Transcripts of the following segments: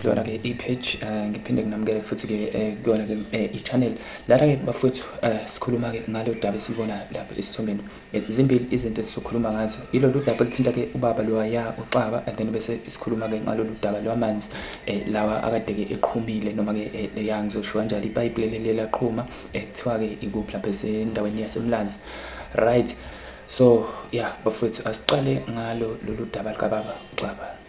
kuyona ke i-page eh, ngiphinde nginamukele futhi ke eh, kuyona ke eh, i-channel lana ke bafowethu sikhuluma ke ngalo daba esilibona lapha esithombeni zimbili izinto esizokhuluma ngazo ilolu daba oluthinta ke ubaba loya uxaba and then bese sikhuluma ke ngalolu daba lwamanzi lawa akade ke eqhumile noma ke leya ngizosho kanjalo ipayipi leli laqhuma kuthiwa ke ikuphi lapha esendaweni yasemlazi right so yeah bafowethu asiqale ngalo lolu daba likababa uxaba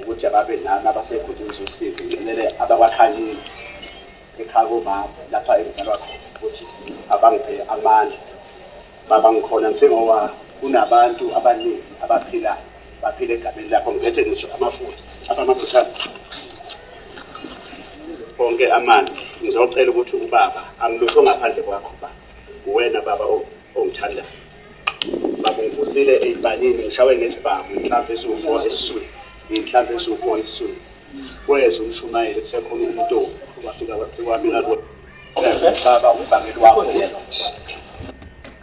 Ukuthi ababe nami abasekho nje ngizosiza ngicelele abakwaHanini ekhaya komama lapha engizalwa khona ukuthi abangiphe amandla baba ngikhona njengoba kunabantu abaningi abaphilayo baphila egameni lakho ngiphethe ngisho amafutha apha amafutha onke amanzi ngizocela ukuthi ubaba amlutho ngaphandle kwakho ba uwena baba ongithandayo Babengivusile ey'palini ngishawe ngesibhamu inhlamvu esiwu-four esiswini inhlamvu esiwu-four esiswini kweza umshumayeli kusekhona umntombi wafika wami ngakho baba umbangeli wakho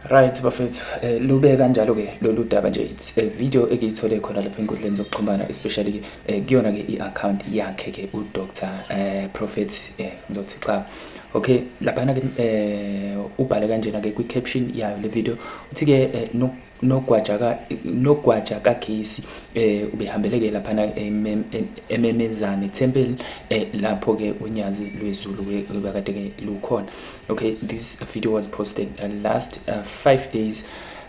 Right bafethu eh, lube kanjalo ke lolu daba nje it's a video ekiyithole khona lapha enkundleni zokuxhumana especially ke eh, kuyona ke i-account yakhe ke uDr eh, Prophet eh, ngizothi xa okay laphana ke eh ubhale kanjena ke kwi caption yayo le video uthi ke eh, no nogwaja ka nogwaja kagesi eh ubehambeleke lapha na ememezane temple eh, lapho ke unyazi lwezulu bekade ke lukhona okay this video was posted uh, last 5 uh, eh, days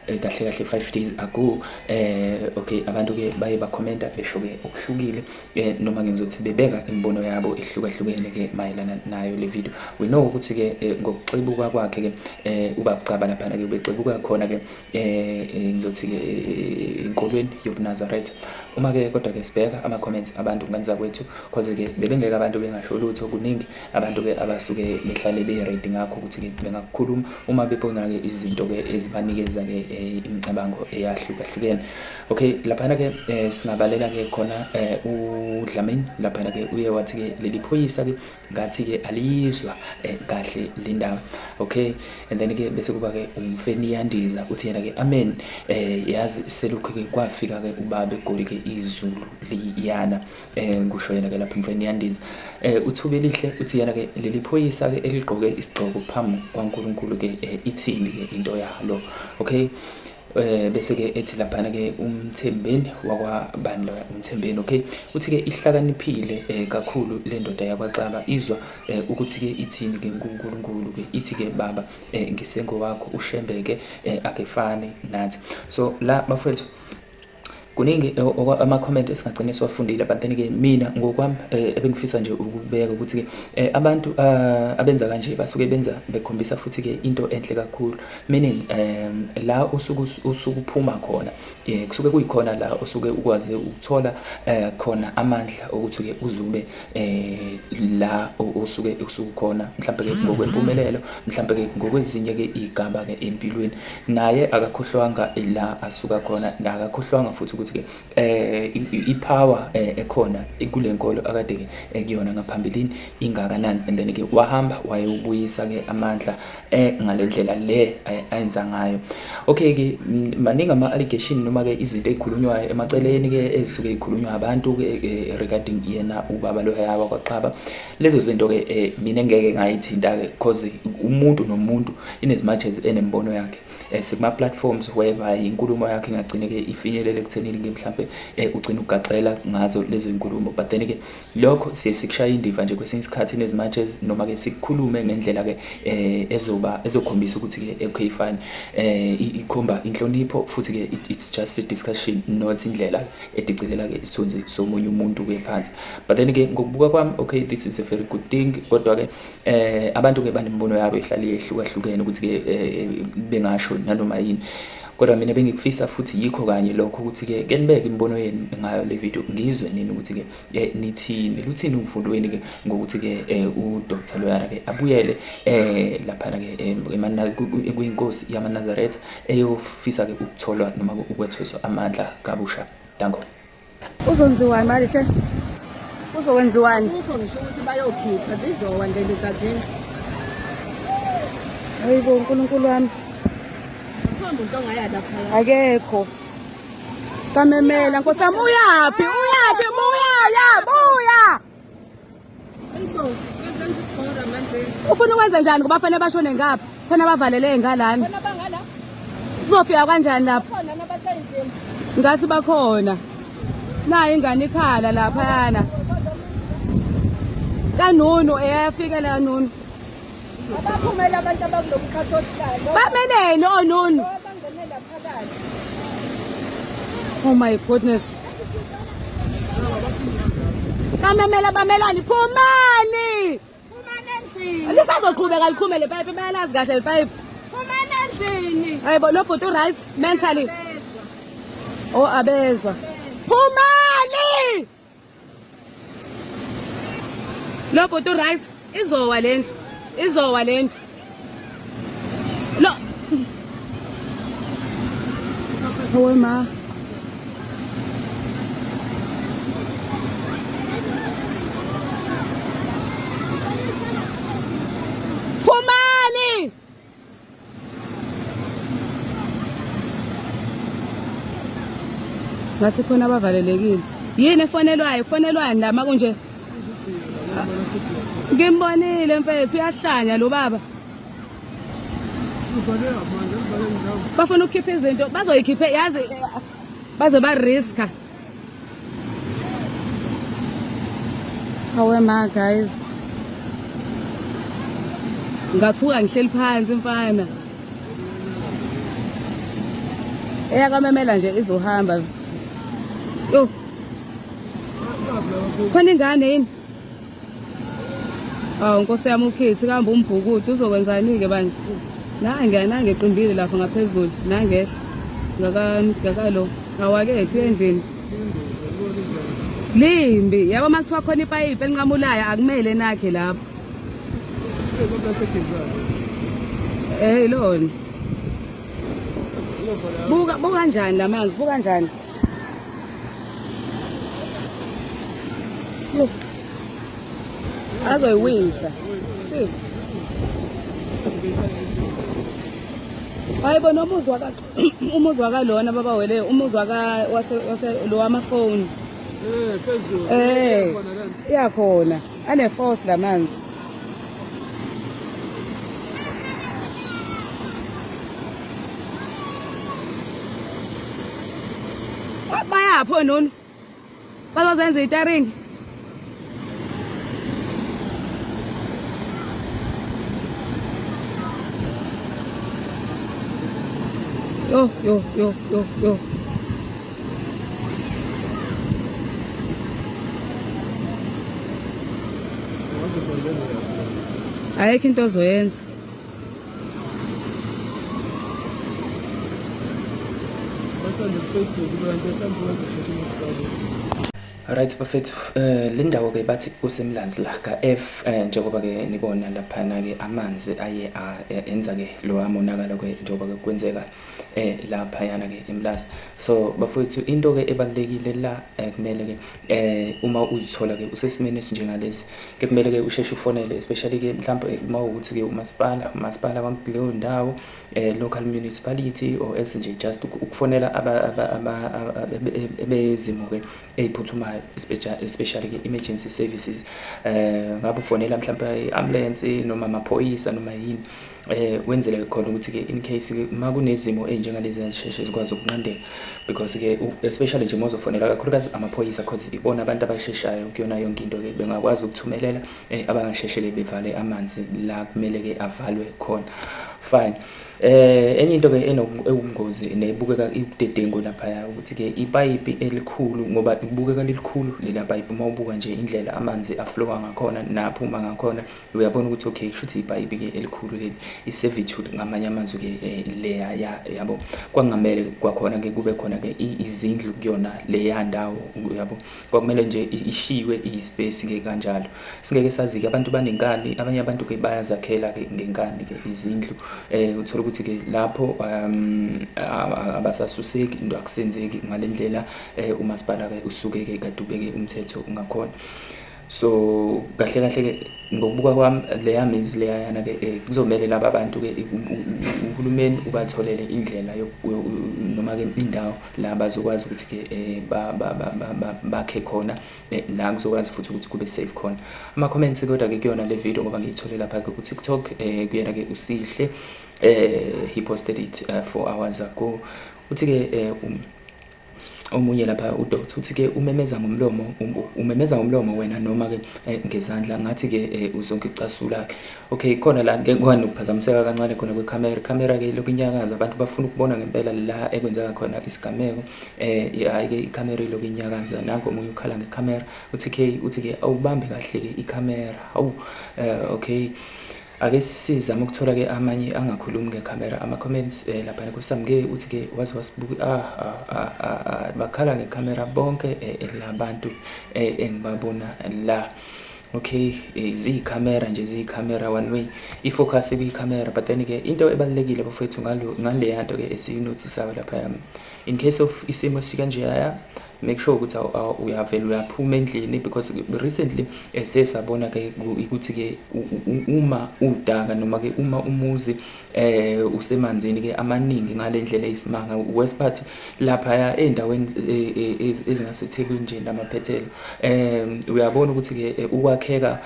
eh, kahle kahle 5 days ago eh okay abantu ke baye ba commenta besho ke okuhlukile eh, noma ke ngizothi bebeka imibono yabo ehlukahlukene ke mayelana nayo le video we know ukuthi ke eh, ngokuxibuka kwakhe ke eh, ubabugcaba lapha ke ubexebuka khona ke eh, eh ngizothi ke eh, inkolweni yobunazaretha uma ke kodwa ke sibheka ama comments abantu nganza kwethu cause ke bebengeke abantu bengasho lutho kuningi abantu ke abasuke behlale be ready ngakho ukuthi ke bengakukhuluma uma bebona ke izinto ke ezibanikeza ke eh, imicabango eyahlukahlukene Okay, laphana ke eh, singabalela ke khona eh, uDlamini laphana ke uye wathi ke leli phoyisa ke ngathi ke alizwa eh, kahle le ndaba. Okay, and then ke bese kuba ke umfeni yandiza uthi yena ke amen eh yazi selokhu ke kwafika ke ubabe goli ke izulu liyana eh kusho yena ke lapha umfeni yandiza. Eh uthuke lihle uthi yena ke leli phoyisa ke eligqoke isigqoko phambi kwaNkulunkulu ke eh, ithini ke into yalo. Okay. Eh bese ke ethi laphana ke umthembeni wakwabani loya umthembeni okay uthi ke ihlakaniphile eh, kakhulu le ndoda yakwaxaba izwa eh, ukuthi ke ithini ke uNkulunkulu ke ithi ke baba eh, ngisengowakho ushembeke eh, akefane nathi so la bafethu kuningi eh, ama-comment esingagcine siwafundile but then ke mina ngokwami eh, ebengifisa nje ukubeka ukuthi-ke eh, abantu ah, abenza kanje basuke benza bekhombisa futhi-ke into enhle kakhulu meaning um la usuke usuke uphuma khona um kusuke kuyikhona la usuke ukwazi ukuthola um khona amandla okuthi-ke uzube eh la osuke usukhona mhlawumbe ke ngokwempumelelo mhlawumbe ke ngokwezinye ke igaba ke empilweni naye akakhohlwanga la asuka khona akakhohlwanga futhi ukuthi ke eh ipower eh, ekhona kulenkolo akade ke ekuyona ngaphambilini ingakanani and then ke wahamba wayobuyisa ke amandla eh ngale ndlela le ayenza ngayo okay ke maningi ama allegation noma ke izinto ezikhulunywayo emaceleni ke ezisuke ezikhulunywa abantu ke eh, regarding yena ubaba lo yaba kwaXaba lezo zinto ke eh, mina ngeke ngayithinta ke because umuntu nomuntu in as much as enembono yakhe eh, sikuma platforms whereby inkulumo yakhe ingagcine ke ifinyelele ekuthenini ke mhlambe ugcina ugaxela ngazo lezo inkulumo but then ke Lokho siye sikushaye indiva nje kwesinye isikhathi nezi matches noma ke sikukhulume ngendlela ke eh ezoba ezokhombisa ukuthi ke okay fine eh ikhomba inhlonipho futhi ke it's just a discussion not indlela edicilela ke isithunzi somunye umuntu ke phansi but then ke ngokubuka kwami okay this is a very good thing kodwa ke eh abantu ke banembono yabo ihlali yehlukahlukene ukuthi ke eh, bengasho nanoma yini kodwa mina bengikufisa futhi yikho kanye lokho ukuthi ke kenibeke imibono yenu ngayo le video ngizwe nini ukuthi ke eh, nithini luthini uvundo wenu ke ngokuthi ke eh, u Dr Loyara ke abuyele eh lapha ke eh, emanaka kuyinkosi yamaNazaretha eyofisa ke ukutholwa noma ukwethweswa amandla kabusha danko uzonziwani mali hle uzokwenziwani ukho ngisho ukuthi bayokhipha zizowa nje lezi zazini hayibo uNkulunkulu wami akekho Kamemela nkosi yami uyaphi uyaphi buya ya buya ufuna ukwenza njani ngoba fanele bashone ngapha khona bavaleleke ngalana kuzofika kanjani lapho ngathi bakhona nayo ingane ikhala laphayana kanunu eyafika la nunu Abaphumela abantu abakulo mkhathi odlalo. Bameneni onunu? Abangenela phakathi. Oh my goodness. Bamemela bamelani phumani. Phumani endlini. Lisazoqhubeka liqhume le pipe bayalazi kahle le pipe. Phumani endlini. Hayibo lo bhuti right mentally. Oh abezwa. Phumani! Lo bhuti right izowa lendlu. Izowa lendlu. Lo Owe ma. ngathi khona abavalelekile yini efonelwayo kufonelwani la makunje ngimbonile mfethu uyahlanya lo baba bafuna ukukhipha izinto bazoyikhiphe yazi baze ba-riska Awe ma guys. Ngathuka ngihleli phansi mfana. Eya kamemela nje izohamba. Yo. Khona ingane yini? awu nkosi yami ukhithi kambe umbhukudu uzokwenzani-ke bani nange nange eqimbile lapho ngaphezulu nangehla ngakalo awakehli uyendlini limbi yabo uma kuthiwa khona ipayipi elinqamulayo akumele nakhe lapho eh ilona buka buka njani lamanzi buka njani Look. Azoyiwisa. See. Hayibo noma uzwa ka umuzwa ka lona baba wele umuzwa ka wase wase lo wamafoni. Eh phezulu. Eh. Iyakhona. Ane force lamanzi. Bayaphi ononi? Bazozenza itaringi. Yo yo yo yo yo. ayikho into ozoyenza Right bafethu eh le ndawo ke bathi kusemlanzi la ka F eh, njengoba ke nibona lapha na ke amanzi aye enza ke lo amonakala ke njengoba ke kwenzeka eh laphayana ke emlazi so bafowethu into ke ebalekile la eh, kumele ke eh uma uzithola ke usesimeni esinjengalesi ke kumele ke usheshe ufonele especially ke mhlawumbe eh, uma ukuthi ke umasipala umasipala wakuleyo ndawo eh local municipality or else nje just ukufonela aba bezimo ke eziphuthumayo especially ke emergency services eh ngabe ufonela mhlawumbe i ambulance noma amaphoyisa noma yini eh wenzele khona ukuthi ke in case ke uma kunezimo ezinjengalezi ezisheshe zikwazi ukunqandeka because ke especially nje mozofonela kakhulukazi amaphoyisa because ibona abantu abasheshayo kuyona yonke into ke bengakwazi ukuthumelela eh, abangasheshe ke bevale amanzi la kumele ke avalwe khona fine eh enye into ke enobungozi nebukeka ibudedengu lapha ukuthi ke ipipe elikhulu ngoba kubukeka lilikhulu lela pipe uma ubuka nje indlela amanzi aflowa ngakhona naphuma ngakhona uyabona ukuthi okay kushuthi ibhayibi ke elikhulu leli i-servitude ngamanye amazwi ke eh, leya ya yabo kwakungamele kwakhona ke kube khona ke izindlu kuyona leya ndawo yabo kwakumele nje ishiywe i-space ke kanjalo singeke sazi ke abantu banenkani abanye abantu ke bayazakhela ke ngenkani ke izindlu eh uthola ukuthi ke lapho um, abasasuseki into akusenzeki ngalendlela eh, umasipala ke usuke ke kadubeke umthetho ungakhona so kahle kahle ke ngokubuka kwami leya mizi leyayana ke eh, kuzomele laba abantu ke uhulumeni ubatholele indlela noma ke indawo la bazokwazi ukuthi ke eh, bakhe khona eh, la kuzokwazi futhi ukuthi kube safe khona ama comments kodwa ke kuyona le video ngoba ngiyithole lapha ke ku TikTok kuyena ke usihle eh he posted it uh, 4 hours ago uthi ke um omunye lapha udokotha uthi ke umemeza ngomlomo um, umemeza ngomlomo wena noma ke eh, ngezandla ngathi ke eh, uzonke icasula ke okay khona la ngeke kwani ukuphazamiseka kancane khona kwe camera camera ke lokhu inyakaza abantu bafuna ukubona ngempela la ekwenzeka khona isigameko eh hayi ke i camera lokhu inyakaza nango omunye ukhala nge camera uthi ke uthi ke awubambe kahle ke i camera hawu eh okay ake sizame ukuthola ke amanye angakhulumi ngekhamera ama-comments um eh, laphana kusamke uthi ke waze wasibuki ah, ah, ah, ah, ah. bakhala ngekhamera bonke um labantu um engibabona la okay um ziyikhamera nje ziyikhamera one way i-focus kuyikhamera but then ke into ebalulekile bafowethu ngaleya nto ke esiyinothisayo lapha yami in case of isimo sikanjeyaya make sure ukuthi uyavela uyaphuma endlini because recently eh, siye sabona ke ukuthi ke uma udaka noma ke uma umuzi eh usemanzini ke amaningi ngalendlela isimanga west part lapha ya endaweni eh, eh, ezingasethekwini nje namaphethelo eh uyabona ukuthi ke ukwakheka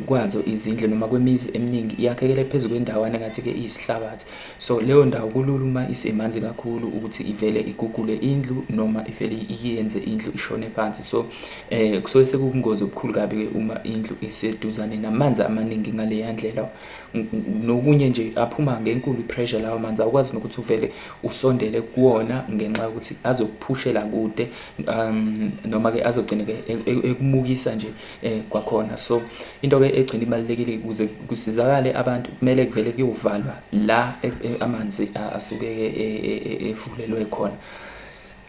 kwazo izindle noma kwemizi eminingi iyakhekele phezulu kwendawana ngathi ke isihlabathi So leyo ndawo kulula uma isemanzi kakhulu ukuthi ivele igugule indlu noma ivele iyenze indlu ishone phansi so eh kusuke sekubungozi obukhulu kabi ke uma indlu iseduzane namanzi amaningi ngaleya ndlela nokunye nje aphuma ngenkulu pressure lawo manzi awukwazi nokuthi uvele usondele kuwona ngenxa yokuthi azokuphushela kude um noma ke azogcina ke e, e, ekumukisa nje eh kwakhona so into ke egcina ibalekile ukuze kusizakale abantu kumele kuvele kuyovalwa la e, e, amanzi asuke e, efulelwe khona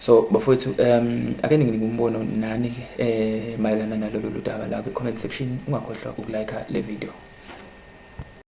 so bafowethu um ake ninginike umbono nani eh mayelana nalolu daba la kwi-comment section ungakhohlwa ukulike le video